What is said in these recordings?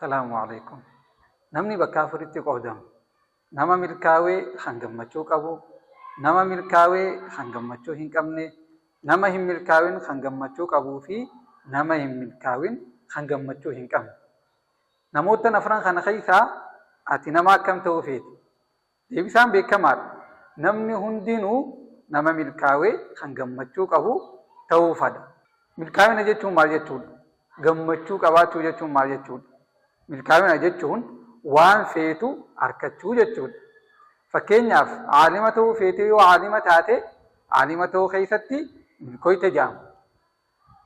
Salaamu Aleykum. Namni bakka afuritti qoodamu. Nama milkaawee kan gammachuu qabu, nama milkaawee kan gammachuu hin qabne, nama hin milkaawin kan gammachuu qabuu fi nama hin milkaawin kan gammachuu hin qabne. Namoottan afran kana keessaa ati nama akkam ta'uu feeta? Deebisaan beekamaadha. Namni hundinuu nama milkaawe kan gammachuu qabu ta'uu fada. Milkaawina jechuun maal jechuudha? Gammachuu qabaachuu jechuun maal jechuudha? Milkaawina jechuun waan feetu arkachuu jechuudha. Fakkeenyaaf aalima ta'uu feetee yoo aalima taate aalima ta'uu keessatti milkoyte jedhama.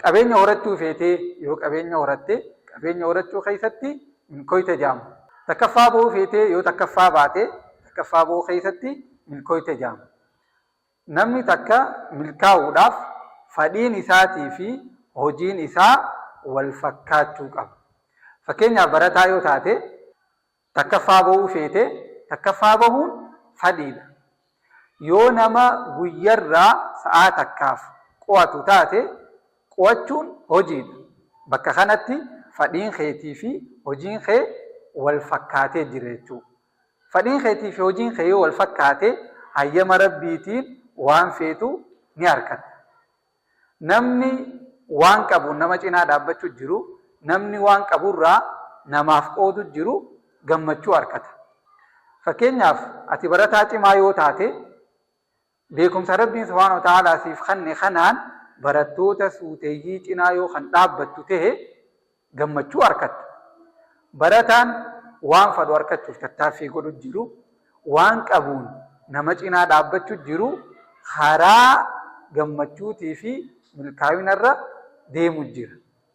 Qabeenya horachuu feetee yoo qabeenya horatte qabeenya horachuu keessatti milkooyte jaama. Takkaffaa bahuu feetee yoo takkaffaa baate takkaffaa bahuu keessatti milkooyte jaama. Namni takka milkaa'uudhaaf fadhiin isaatii fi hojiin isaa wal fakkaachuu qaba. Fakkeenyaaf barataa yoo taate. takkaffaa bahuu feete takkaffaa bahuun fadhiidha. Yoo nama guyyarraa sa'aa takkaaf qo'atu taate qo'achuun hojiidha. Bakka kanatti fadhiin keetii fi hojiin kee wal fakkaatee jira jechuudha. Fadhiin keetii fi hojiin kee yoo wal fakkaate hayyama Rabbiitiin waan feetu ni arkatta. Namni waan qabuun nama cinaa dhaabbachu jiru, namni waan qabu irraa namaaf qoodu jiru gammachuu arkata. Fakkeenyaaf ati barataa cimaa yoo taate beekumsa Rabbiin subhaanahu wa ta'aalaa siif kanne kanaan barattoota suuteyyii cinaa yoo kan dhaabbattu ta'e, gammachuu arkatta. Barataan waan fadhu arkachuuf tattaaffii godhu jiru waan qabuun nama cinaa dhaabbachu jiru karaa gammachuutii fi milkaawinarra deemu jira.